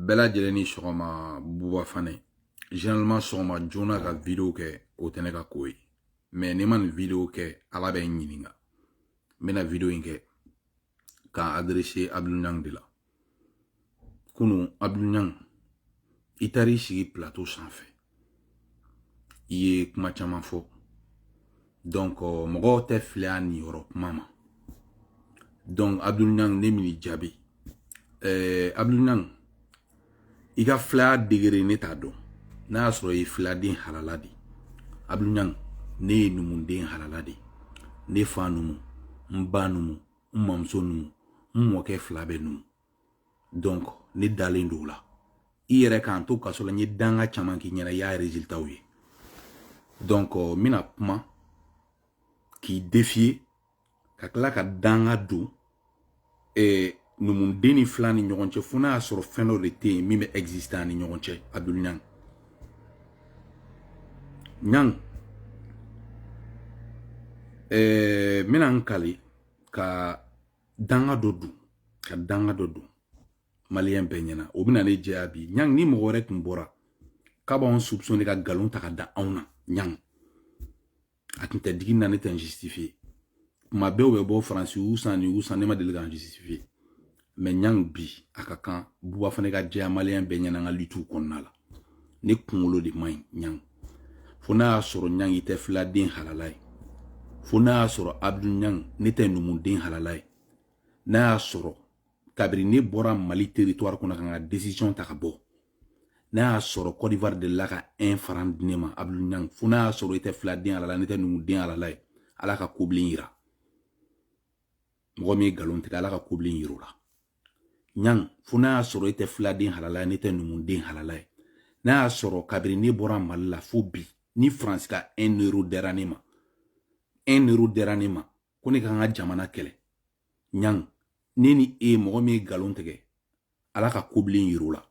bɛɛ lajɛlen ni sɔgɔma buba fane généralement sɔgɔma joona ka video kɛ o tɛ ne ka ko ye mais ni n ma nin video kɛ ala bɛ n ɲininka n bɛna video in kɛ k'a adresser abdul ɲang de la kunu abdul ɲang i taar'i sigi plateau sanfɛ i ye kuma caman fɔ donc mɔgɔw tɛ filaya niyɔrɔ kuma ma donc abdul ɲang ne bɛn'i jaabi ɛɛ abdul ɲang i ka filaya degré ne t'a dɔn n'a y'a sɔrɔ i ye filaden halala de abdul ɲang ne ye numuden halala de ne fa numu n ba numu n mamuso numu n mɔkɛ fila bɛɛ numu donc ne dalen don o la i yɛrɛ k'an to kaso la n ye danga caman k'i ɲɛna i y'a résultaw ye donc n bɛna kuma k'i défier ka tila ka danga don eh, numuden ni fila ni ɲɔgɔn cɛ fo n'a y'a sɔrɔ fɛn dɔ de tɛ yen min bɛ exister an ni ɲɔgɔn cɛ abdul ɲang ɲang eh, n bɛna n kali ka danga dɔ don ka danga dɔ don maliyɛn bɛɛ ɲɛna o bɛna ne jɛya bi ɲang ni mɔgɔ wɛrɛ tun bɔra k'a b'anw supsɔne ka nkalon ta ka da anw na ɲang a tun tɛ digi n na ne tɛ n justifiye kuma bɛɛ u bɛ bɔ faransi y'u san nin y'u san ne ma deli ka n justifiye mɛ ɲang bi a ka kan buba fane ka jɛya maliyɛn bɛɛ ɲɛna an ka litiw kɔnɔna la ne kunkolo de man ɲi ɲang fo n'a y'a sɔrɔ ɲang i tɛ filaden halala ye fo n'a y'a sɔrɔ abdul ɲang ne tɛ numuden halala ye n'a y'a sɔrɔ kabiri ne bɔra mali teritwari kɔnɔ ka n ka desisiyɔn ta ka bɔ n'a y'a sɔrɔ kɔdiwari delila ka ɛn faran di ne ma abdul ɲang fo n'a y'a sɔrɔ i tɛ filaden halala ne tɛ numuden halala ye ala ka kobilen yira mɔgɔ min ye nkalon tigɛ ala ka kobilen yir'o la ɲang fo n'a y'a sɔrɔ i tɛ filaden halala ye ne tɛ numuden halala ye n'a y'a sɔrɔ kabiri ne bɔra mali la fo bi ni faransi ka un euro dira ne ma un euro dira ne ma ko ne ka n ka jamana kɛlɛ ɲang ne ni e mɔgɔ min ye nkalon tigɛ ala ka kobilen yir'o la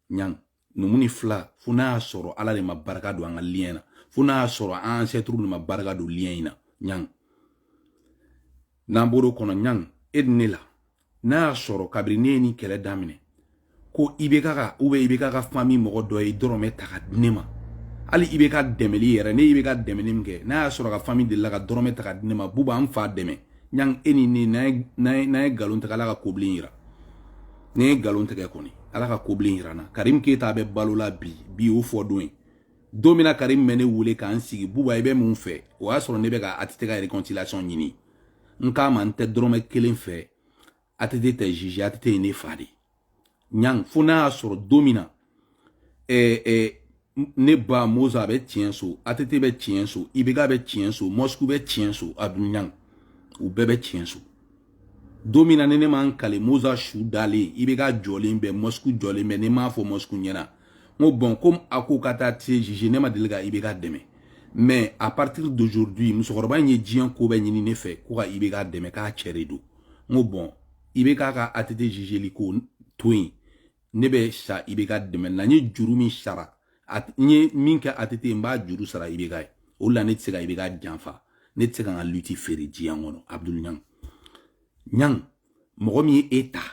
ɲang numu ni fila fo n'a y'a sɔrɔ ala de ma barika don an ka liyɛn na fo n'a y'a sɔrɔ an ancêtres de ma barika don liyɛn in na ɲang n'an bɔr'o kɔnɔ ɲang e ni ne la n'a y'a sɔrɔ kabiri ne ye nin kɛlɛ daminɛ ko ibk ka ubiyɛn ibk ka fami mɔgɔ dɔ ye dɔrɔmɛ ta ka di ne ma hali ibk dɛmɛli yɛrɛ ne ye ibk dɛmɛni min kɛ n'a y'a sɔrɔ a ka fami delila ka dɔrɔmɛ ta ka di ne ma buba an fa dɛmɛ ɲang e ni ne n'a ye nkalon tigɛ ala ka kobilen yira ne ye nkalon tigɛ kɔni ala ka kobilen yira n na karim keyita bɛ balo la bi bi y'o fɔ don ye don min na karim bɛ ne wele k'an sigi buba i bɛ mun fɛ o y'a sɔrɔ ne bɛ ka att ka réconciliation ɲini n k'a ma n tɛ dɔrɔmɛ kelen fɛ ATT tɛ juge ATT ye ne fa de ye ɲang fo n'a y'a sɔrɔ don min na eh, eh, ne ba moza a bɛ tiɲɛ so ATT bɛ tiɲɛ so IBK bɛ tiɲɛ so mɔsiku bɛ tiɲɛ so abdu ɲang u bɛɛ bɛ tiɲɛ so don min na ni ne ma n kale moza su dalen IBK jɔlen bɛ mɔsiku jɔlen bɛ ne m'a fɔ mɔsiku ɲɛna n ko bon komi a ko ka taa se juge ne ma deli ka IBK dɛmɛ mais à partir d'aujourd'hui musokɔrɔba in ye diɲɛ ko bɛɛ ɲini ne fɛ ko ka IBK dɛmɛ k'a cɛ de don n ko bon IBK ka ATT zizeli ko to yen ne bɛ sa IBK dɛmɛ na n ye juru min sara n ye min kɛ ATT n b'a juru sara IBK ye o la ne tɛ se ka IBK janfa ne tɛ se ka n ka lutte feere diɲɛ kɔnɔ abudulu ɲang ɲang mɔgɔ min ye e ta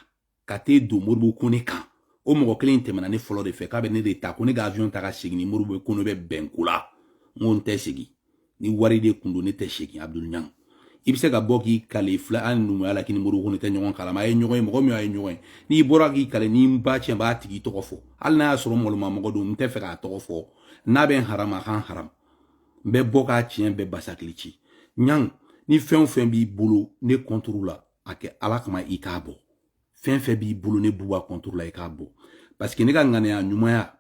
ka t'e don moribo kone kan o mɔgɔ kelen tɛmɛna ne fɔlɔ de fɛ k'a bɛ ne de ta ko ne ka avion ta ka segin ni moribo kone bɛ bɛn ko la n ko n tɛ segin ni wari de kun don ne tɛ segin abudul ɲang i bɛ se ka bɔ k'i kale fila ani numuya la k'i ni moribo kone tɛ ɲɔgɔn kalama a ye ɲɔgɔn ye mɔgɔ min y'a ye ɲɔgɔn ye n'i bɔra k'i kale ni n ba tiɲɛ b'a tigi tɔgɔ fɔ hali n'a y'a sɔrɔ mɔlɔma mɔgɔ don n tɛ fɛ k'a tɔgɔ fɔ n'a bɛ n harama a ka n haram n bɛ bɔ k'a tiɲɛ bɛɛ basakili ci ɲang ni fɛn o fɛn b'i bolo ne contre la a kɛ ala kama i k'a bɔ fɛn fɛn b'i bolo ne buba contre la i k'a bɔ parce que ne ka ŋaniya ɲumanya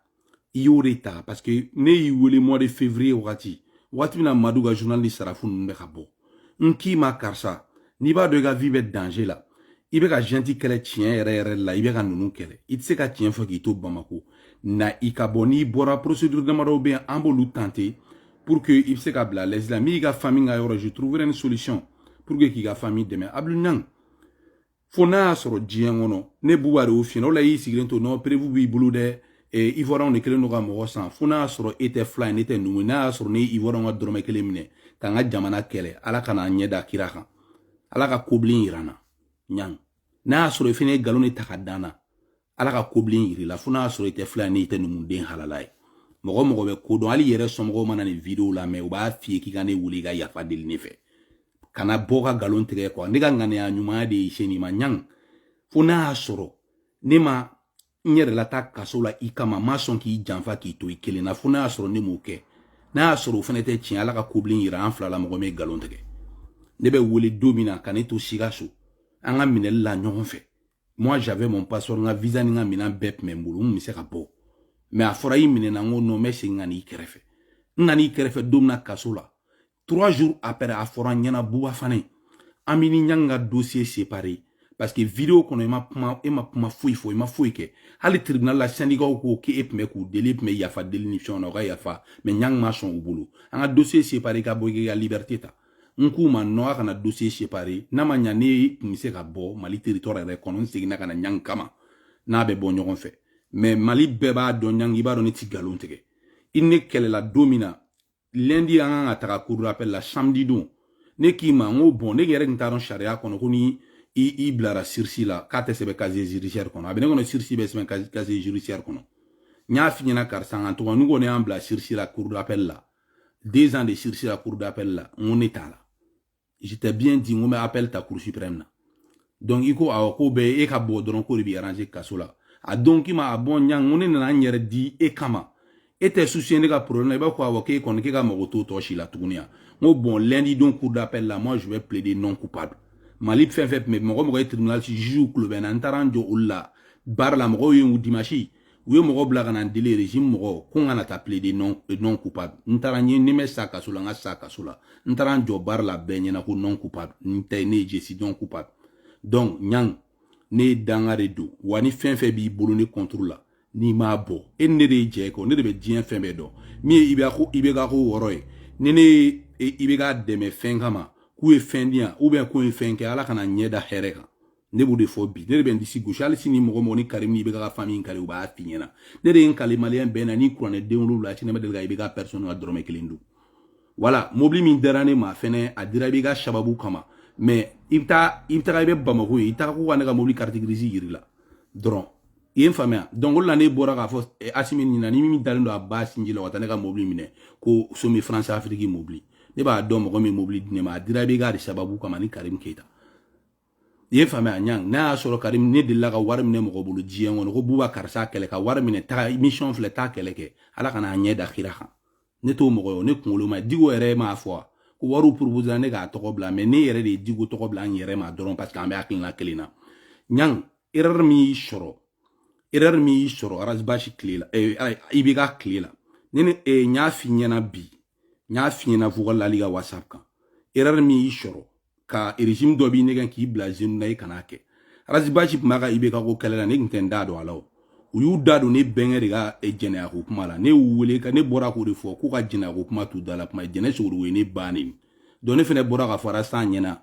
i y'o de ta parce que ne y'i wele mois de février wagati wagati min na madu ka journal ni sarafu ninnu bɛ ka bɔ n k'i ma karisa n'i b'a dɔn i ka vie bɛ danger la i bɛ ka junte kɛlɛ tiɲɛ yɛrɛ yɛrɛ la i bɛ ka ninnu kɛlɛ i tɛ se ka tiɲɛ fɔ k'i to bamako na i ka bɔ n'i bɔra procédure damadɔw bɛ yen an b'olu tenter pour que i bɛ se ka bila l'asile la min y'i ka famille ka yɔrɔ je trouverai une solution pour que k'i ka famille dɛmɛ abudul ɲang fo n'a y'a sɔrɔ diɲɛ kɔnɔ ne buba de y'o f'i ye o la y'i sigilen to n'o preuve b'i bolo dɛ ivoiriyɛnw de kɛlen don ka mɔgɔ san fo n'a y'a sɔrɔ e tɛ fila ye ne tɛ numu n'a y'a sɔrɔ ne ye ivoiriyɛnw ka dɔrɔmɛ kelen minɛ ka n ka jamana kɛlɛ ala kana n ɲɛ da kira kan ala ka kobilen yira n na ɲang n'a y'a sɔrɔ i fana ye nkalon de ta k'a da n na ala ka kobilen yir'i la fo n'a y'a sɔrɔ i tɛ fila ni i tɛ numuden halala ye mɔgɔ mɔgɔ bɛ ko dɔn hali i yɛrɛ somɔgɔw mana nin video lamɛn u b'a f'i ye k'i ka ne wele i ka yafa deli ne fɛ kana bɔ ka nkalon tigɛ quoi ne ka ŋaniya ɲumanya de ye se nin ma ɲang fo n'a y'a sɔrɔ ne ma n yɛrɛ lataa kaso la i kama n ma sɔn k'i janfa k'i to i kelen na fo n'a y'a sɔrɔ ne m'o kɛ n'a y'a sɔrɔ o fana tɛ tiɲɛ ala ka kobilen yira an fila la mɔgɔ min ye nkalon tigɛ ne bɛ wele don min na ka ne to sikaso an ka minɛli la ɲɔgɔn fɛ moi j'avais mon passeport n ka visa ni n ka minan bɛɛ tun bɛ n bolo n bɛ se ka bɔ mais a fɔra i minɛna n ko non n bɛ segin ka n'i kɛrɛfɛ n nana i kɛrɛfɛ don min na kaso la trois jours après a fɔra n ɲɛna buba fane an b'e ni ɲang ka dossier séparé parce que video kɔnɔ i ma kuma e ma kuma foyi fɔ i ma foyi kɛ hali tribunal la syndicat ko k'e tun bɛ k'u deli e tun bɛ yafa deli ni fɛnw na u ka yafa mais ɲang ma sɔn u bolo an ka dossier séparé ka bɔ i ka liberté ta n k'u ma non a kana dossier séparer n'a ma ɲa ne tun bɛ se ka bɔ mali territoire yɛrɛ kɔnɔ n seginna ka na ɲangi kama n'a bɛ bɔ ɲɔgɔn fɛ mais mali bɛɛ b'a dɔn ɲangi i b'a dɔn ne ti nkalon tigɛ i ne kɛlɛla don min na lundi an kan ka taga cour d'appel la samedi don ne k'i ma n ko bon ne yɛrɛ tun t'a dɔn sariya kɔnɔ ko ni i bilara sursis la k'a tɛ sɛbɛn casier judiciaire kɔnɔ a bɛ ne kɔnɔ sursis bɛ sɛbɛn casier judiciaire kɔnɔ n y'a f'i ɲɛna karisa n ka tɔgɔ n'u kɔni y'an bila sursis la cour d'appel la deux ans de sursis à la cour d'appel la n ko ne t'a la je t'ai bien dit n ko n bɛ appel ta cour suprême na donc i ko awɔ k'o bɛɛ e ka bɔ dɔrɔn k'o de b'i arranger kaso la a don k'i ma ah bon ɲang n ko ne nana n yɛrɛ di e kama e tɛ soucier ne ka problème na i b'a fɔ awɔ k'e kɔni k'e ka mago t'o tɔ si la tuguni yan n ko bon lundi don cour d'appel la moi je vais plaider non coupable mali fɛn fɛn tun bɛ mɔgɔ mɔgɔ ye tribunal juge kulu bɛ na n taara n jɔ olu la barre la mɔgɔw ye n dimanche u ye mɔgɔ bila ka na n deli régime mɔgɔ ko n kana taa plaider non, non coupable n taara n ye ni n bɛ sa kaso la n ka sa kaso la n taara n jɔ barre la bɛɛ ɲɛna ko non coupable n tɛ ne ye je suis non coupable donc ɲang ne ye dangaden don wa ni fɛn fɛn b'i bolo ne contre la n'i m'a bɔ e ni ne de ye jɛ kɔ ne de bɛ diɲɛ fɛn bɛɛ dɔn min ye ibk ko ibk ko wɔɔrɔ ye ni ne ye ibk dɛmɛ fɛn kama k'u ye fɛn di yan ou bien k'u ye fɛn kɛ ala kana n ɲɛ da hɛrɛ kan ne b'o de fɔ bi ne de bɛ n disi gosi hali sini mɔgɔ mɔgɔ ni karimu ibk famille karimu b'a f'i ɲɛna ne de ye n kali maliyɛn bɛɛ ɲɛna ni kuranɛ den wolowula sini ne ma deli ka ibk personne ka dɔrɔmɛ kelen dun voilà mobili min dira ne ma fɛnɛ a dira ibk sababu kama mais i bɛ taa i bɛ taga i bɛ bamako ye i taga ko ka ne ka mobili carte grise yir'i la dɔrɔn i ye n faamuya donc o de la ne bɔra k'a fɔ eh, asimi nin na ni min dalen don a ba sinji la ka taa ne ka mobili minɛ ko somi france afiriki mobili ne b'a dɔn mɔgɔ min mobili di ne ma a dira ibk de sababu kama ni karim keyita i ye faamuya ɲang n'a y'a sɔrɔ karim ne delila ka wari minɛ mɔgɔ bolo diɲɛ kɔnɔ ko buba karisa kɛlɛ ka wari minɛ taa mission filɛ taa kɛlɛ kɛ ala kana n ɲɛ da kira kan ne t'o mɔgɔ ye ne kunkolo ma dicko yɛrɛ m'a fɔ wa ko wariw proposera ne k'a tɔgɔ bila mais ne yɛrɛ de ye dicko tɔgɔ bila n yɛrɛ ma dɔrɔn parce que an bɛ hakilina kelen na ɲang erreur min y'i sɔrɔ erreur min y'i sɔrɔ ras bath tile la eh, ibk tile la ne ni eh, n y'a f'i ɲɛna bi n y'a f'i ɲɛna fo ka lali ka whatsapp kan erreur min y'i sɔrɔ ka régime dɔ b'i nɛgɛn k'i bila zenu na i kan'a kɛ ras bath tun b'a ka ibk ko kɛlɛ la ne tun tɛ n da don a la o u y'u da don ne bɛnkɛ de ka eh, jɛnɛya ko kuma la ne y'u wele ka ne bɔra k'o de fɔ k'u ka jɛnɛya ko kuma t'u da la kuma jɛnɛ sogodogo ye ne ba nɛni donc ne fɛnɛ bɔra k'a fɔ ras ɲɛna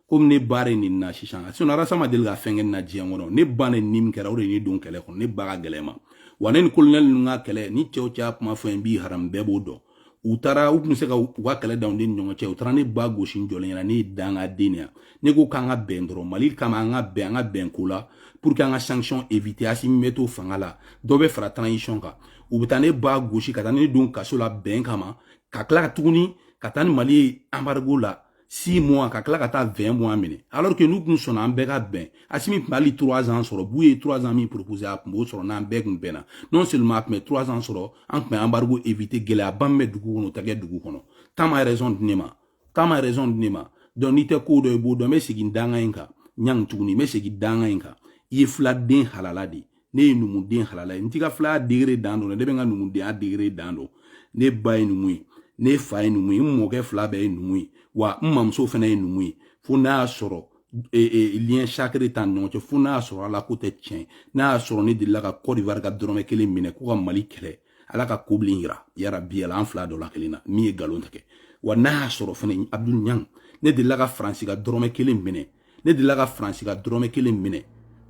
komi ne ba de nenina sisan sinon arasa ma deli ka fɛn kɛ ne na diɲɛ kɔnɔ ne ba neni min kɛra o de ye ne don kɛlɛ kɔnɔ ne ba ka gɛlɛn n ma wa ne ni kolonɛli ninnu ka kɛlɛ ni cɛw cɛya kuma fɔ n b'i haram bɛɛ b'o dɔn u taara u tun bɛ se ka u ka kɛlɛ dan u ni ɲɔgɔn cɛ u taara ne ba gosi n jɔlen ɲɛna ne ye dangaden yan ne ko k'an ka bɛn dɔrɔn mali kama an ka bɛn an ka bɛn ko la pour que an ka sanction éviter asimi bɛ to fanga la dɔ bɛ fara transition kan u bɛ taa ne ba gosi ka taa ne don kaso la bɛn kama ka tila ka tuguni ka taa ni mali ye embargo la 6 mois ka tila ka taa 20 mois minɛ alors que n'u tun sɔnna an bɛɛ ka bɛn asimi tun bɛ hali 3 ans sɔrɔ buye ye 3 ans min proposer a tun b'o sɔrɔ n'an bɛɛ tun bɛnna non seulement a tun bɛ 3 ans sɔrɔ an tun bɛ embargo éviter gɛlɛyaba min bɛ dugu kɔnɔ o tɛ kɛ dugu kɔnɔ temps ma raison di ne ma temps ma raison di ne ma donc n'i tɛ ko dɔn i b'o dɔn n bɛ segin danga in kan ɲangi tuguni n bɛ segin danga in kan i ye filaden halala de ye ne ye numuden halala ye n t'i ka filaya degré dan dɔn ne bɛ n ka numudenya degré dan dɔn ne ba ye numu ye ne fa ye numu ye n mɔkɛ fila bɛɛ ye numu ye wa n mamuso fana ye numu ye fo n'a y'a sɔrɔ e, e, lien sacré t'an ni ɲɔgɔn cɛ fo n'a y'a sɔrɔ ala ko tɛ tiɲɛ n'a y'a sɔrɔ ne delila ka kɔdiwari ka dɔrɔmɛ kelen minɛ ko ka mali kɛlɛ ala ka kobilen yira yarabi ala an fila dɔ la kelen na min ye galon tigɛ wa n'a y'a sɔrɔ fana abdul ɲang ne delila ka faransi ka dɔrɔmɛ kelen minɛ ne delila ka faransi ka dɔrɔmɛ kelen minɛ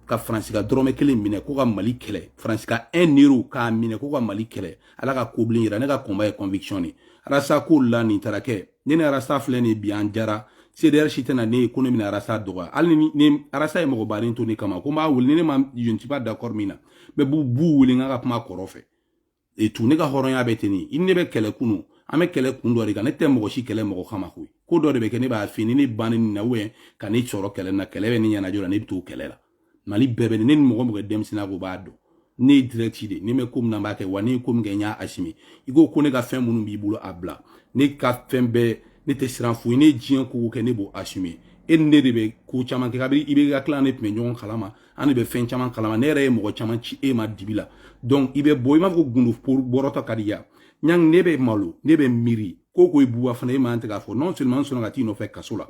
ka faransi ka dɔrɔmɛ kelen minɛ ko ka mali kɛlɛ faransi ka un euro k'a minɛ ko ka mali kɛlɛ ala ka kobilen yira ne ka combat ye conviction de arasa ko la nin taara kɛ ne ni arasa filɛ nin bi an jara cdr si tɛna ne ye ko ne bɛna arasa dɔgɔya hali ni ne arasa ye mɔgɔbaden to ne kama ko n b'a wele ni ne ma je ne suis pas d'accord min na bɛ b'u b'u wele n ka ka kuma kɔrɔ fɛ et tout ne ka hɔrɔnya bɛ ten nin i ni ne bɛ kɛlɛ kunu an bɛ kɛlɛ kun dɔ de kan ne tɛ mɔgɔ si kɛlɛ mɔgɔ kama koyi ko dɔ de bɛ kɛ ne b'a fini ne ba nenina ubiyɛn ka ne sɔrɔ kɛlɛ na kɛlɛ bɛ ne ɲɛnajɔ la ne bɛ t'o kɛlɛ la mali bɛɛ bɛ ne ni mɔgɔ mɔgɔ denmisɛnninya ko b'a dɔn ne ye direct de ne bɛ ko min na n b'a kɛ wa ne ye ko min kɛ n y'a assumer i ko ko ne ka fɛn minnu b'i bolo a bila ne ka fɛn bɛɛ ne tɛ siran foyi ne ye diɲɛ ko kɛ ne b'o assumer e ni ne de bɛ ko caman kɛ kabini ibk tile ne tun bɛ ɲɔgɔn kalama an de bɛ fɛn caman kalama ne yɛrɛ ye mɔgɔ caman ci e ma dibi la donc i bɛ bɔ i b'a fɔ ko gundo bɔrɔtɔ ka di ya ɲangi ne bɛ malo ne bɛ miiri ko ko i buwa fana e man tɛ k'a fɔ non seulement n sɔnna ka t'i nɔfɛ kaso la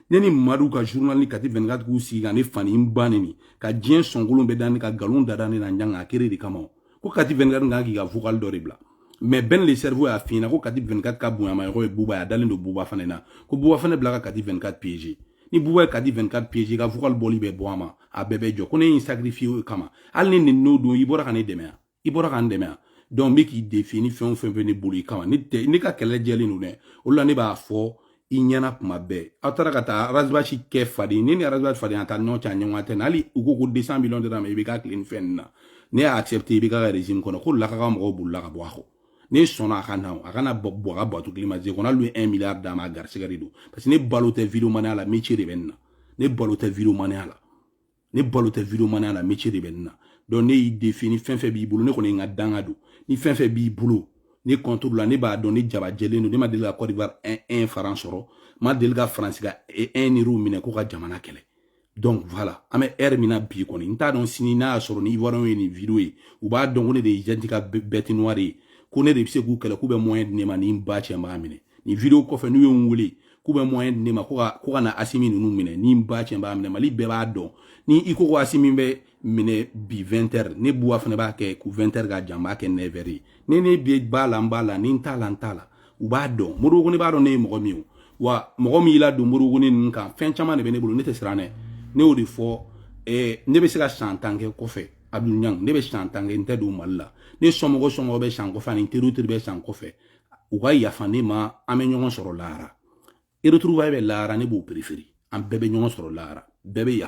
ne ni madu ka journalni kati 24 k'u sigi ka ne fa ni n ba neni ka diɲɛ sɔnkolon bɛɛ da ne kan ka galon dada ne na ɲangi a créer de kama ko kati 24 kan k'i ka vocal dɔ de bila mais ben le cerveau y'a f'i ɲɛna ko kati 24 ka bonyamamɔgɔ ye buba ye a dalen don buba fana na ko buba fana bila ka kati 24 piéger ni buba ye kati 24 piéger ka vocal bɔli bɛ bɔ a ma a bɛɛ bɛ jɔ ko ne y'i sacrifier o kama hali ne nin n'o don i bɔra ka ne dɛmɛ ya i bɔra ka n dɛmɛ yan donc n bɛ k'i défier ni fɛn o fɛn bɛ ne bolo i kama ne tɛ ne ka kɛlɛ jɛlen don dɛ o la ne b'a fɔ i ɲɛna kuma bɛɛ aw taara ka taa Ras Bath kɛ faden ne ni Ras Bath faden a taa ɲɔgɔn cɛ a ɲɔgɔn tɛ na hali u ko ko deux cents millions dira a ma IBK tile ni fɛn nin na ne y'a accepter IBK ka régime kɔnɔ ko a ka mɔgɔw bolila ka bɔ a kɔ ne sɔnna a ka na a kana bɔ a ka bateau climatisé kɔnɔ hali i ye un milliard d'a ma a garisigɛ de don parce que ne balo tɛ videomaniya la métier de bɛ ne na ne balo tɛ videomaniya la ne balo tɛ videomaniya la métier de bɛ ne na donc ne y'i défier ni fɛn fɛn b'i bolo ne kɔni ye n ka danga don ni fɛn fɛn b'i bolo ne contre la ne b'a dɔn ne jaba jɛlen don ne ma deli ka Côte d'Ivoire 1 franc sɔrɔ n ma deli ka faransi ka 1 euro minɛ ko ka jamana kɛlɛ donc voilà an bɛ heure min na bi kɔni n t'a dɔn sini n'a y'a sɔrɔ ni ivoiriyɛnw ye nin video ye u b'a dɔn ko ne de ye junte ka bête noire ye ko ne de bɛ se k'u kɛlɛ k'u bɛ moyen di ne ma ni n ba cɛ n b'a minɛ nin video kɔfɛ n'u ye n wele k'u bɛ moyen di ne ma ko ka ko ka na asimi ninnu minɛ ni n ba cɛn b'a minɛ mali bɛɛ b'a dɔn ni i ko ko asimi bɛ minɛ bi 20 heures ne Bouba Fané b'a kɛ ko 20 heures ka jan n b'a kɛ 9 heures ye ne ni n b'a la n b'a la ni n t'a la n t'a la u b'a dɔn Modibo Koné b'a dɔn ne ye mɔgɔ min ye wa mɔgɔ min y'i ladon Modibo Koné ninnu ka fɛn caman de bɛ ne bolo ne tɛ siran dɛ ne y'o de fɔ eh, ne bɛ se ka san tan kɛ kɔfɛ abdul ɲang ne bɛ san tan kɛ n tɛ don mali la ne somɔgɔ somɔgɔ bɛ sa n kɔfɛ ani teriw teri bɛ sa n kɔfɛ u ka yafa ne ma an bɛ ɲɔgɔn sɔrɔ lahara retrouvailles bɛ lahara ne b'o préférer an bɛɛ bɛ ɲɔgɔn sɔrɔ lahara bɛɛ bɛ yafa